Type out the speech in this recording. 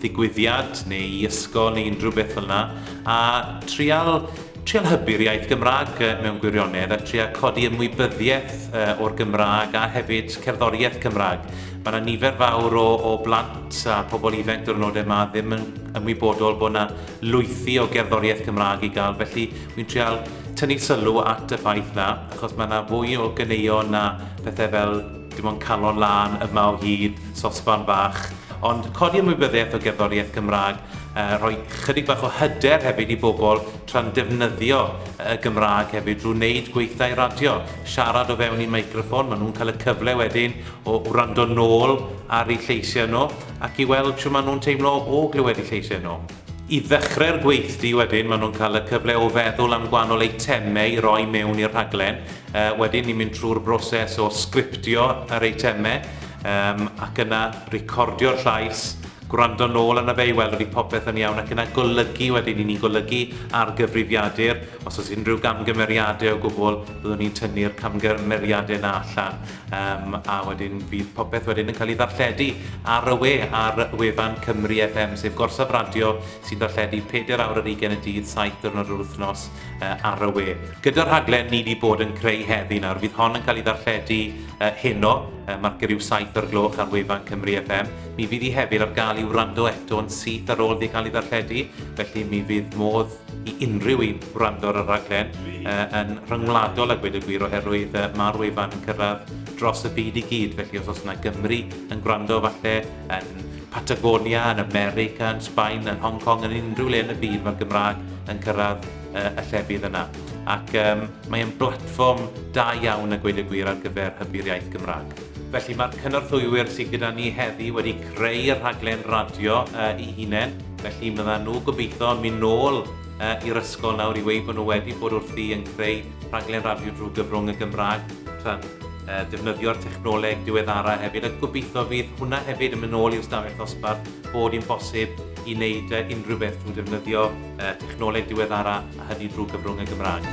ddigwyddiad neu i ysgol neu unrhyw beth fel yna, a trial, trial hybu'r iaith Gymraeg mewn gwirionedd a trial codi ymwybyddiaeth o'r Gymraeg a hefyd cerddoriaeth Cymraeg. Mae yna nifer fawr o, o blant a pobl ifanc diwrnodau yma ddim yn ymwybodol bod yna lwythi o gerddoriaeth Cymraeg i gael, felly wy'n trial tynnu sylw at y ffaith na, achos mae yna fwy o ganeuon na pethau fel Dim ond calon lân yma o hyd, sosban fach, ond codi ymwybyddiaeth o gerddoriaeth Gymraeg, rhoi chydig bach o hyder hefyd i bobl tra'n defnyddio y Gymraeg hefyd drwy wneud gweithdai radio, siarad o fewn i meicroffon, maen nhw'n cael y cyfle wedyn o wrando nôl ar eu lleisiau nhw ac i weld shwt maen nhw'n teimlo o glywed eu lleisiau nhw. I ddechrau'r gweithdy wedyn maen nhw'n cael y cyfle o feddwl am gwahanol eitemau i roi mewn i'r rhaglen. Uh, wedyn ni'n mynd trwy'r broses o sgriptio yr eitemau um, ac yna recordio'r llais gwrando nôl yna fe i weld ydy popeth yn iawn ac yna golygu wedyn i ni'n golygu ar gyfrifiadur. Os oes unrhyw gamgymeriadau o gwbl, byddwn ni'n tynnu'r camgymeriadau yna allan. Um, a wedyn bydd popeth wedyn yn cael ei ddarlledu ar y we ar wefan Cymru FM, sef gorsaf radio sy'n darlledu 4 awr ar 20 y dydd, 7 diwrnod yr wythnos uh, ar y we. Gyda'r rhaglen ni wedi bod yn creu heddi nawr, fydd hon yn cael ei ddarlledu uh, heno, uh, marcio rhyw 7 o'r gloch ar wefan Cymru FM. Mi fydd hi hefyd ar gael i'w rando eto'n syth ar ôl wedi cael ei ddarlledu, felly mi fydd modd i unrhyw un wrando ar y rhaglen yn rhyngwladol a gweud y gwir oherwydd mae'r wefan yn cyrraedd dros y byd i gyd felly os oes yna Gymry yn gwrando falle yn Patagonia, yn America, yn Sbaen, yn Hong Kong, yn unrhyw le yn y byd mae'r Gymraeg yn cyrraedd uh, y llefydd yna. Ac um, mae'n blatfform da iawn a gweud y gwir ar gyfer hybu'r iaith Gymraeg. Felly mae'r cynorthwywyr sydd gyda ni heddi wedi creu y rhaglen radio uh, i hunain Felly fyddan nhw gobeithio yn mynd nôl i'r ysgol nawr i weud bod nhw wedi bod wrthi yn creu rhaglen radio drwy gyfrwng y Gymraeg, tra'n defnyddio'r technoleg diweddara hefyd, a gobeithio fydd hwnna hefyd yn mynd nôl i'r stafell ddosbarth, bod hi'n bosib i wneud unrhyw beth drwy ddefnyddio technoleg diweddara a hynny drwy gyfrwng y Gymraeg.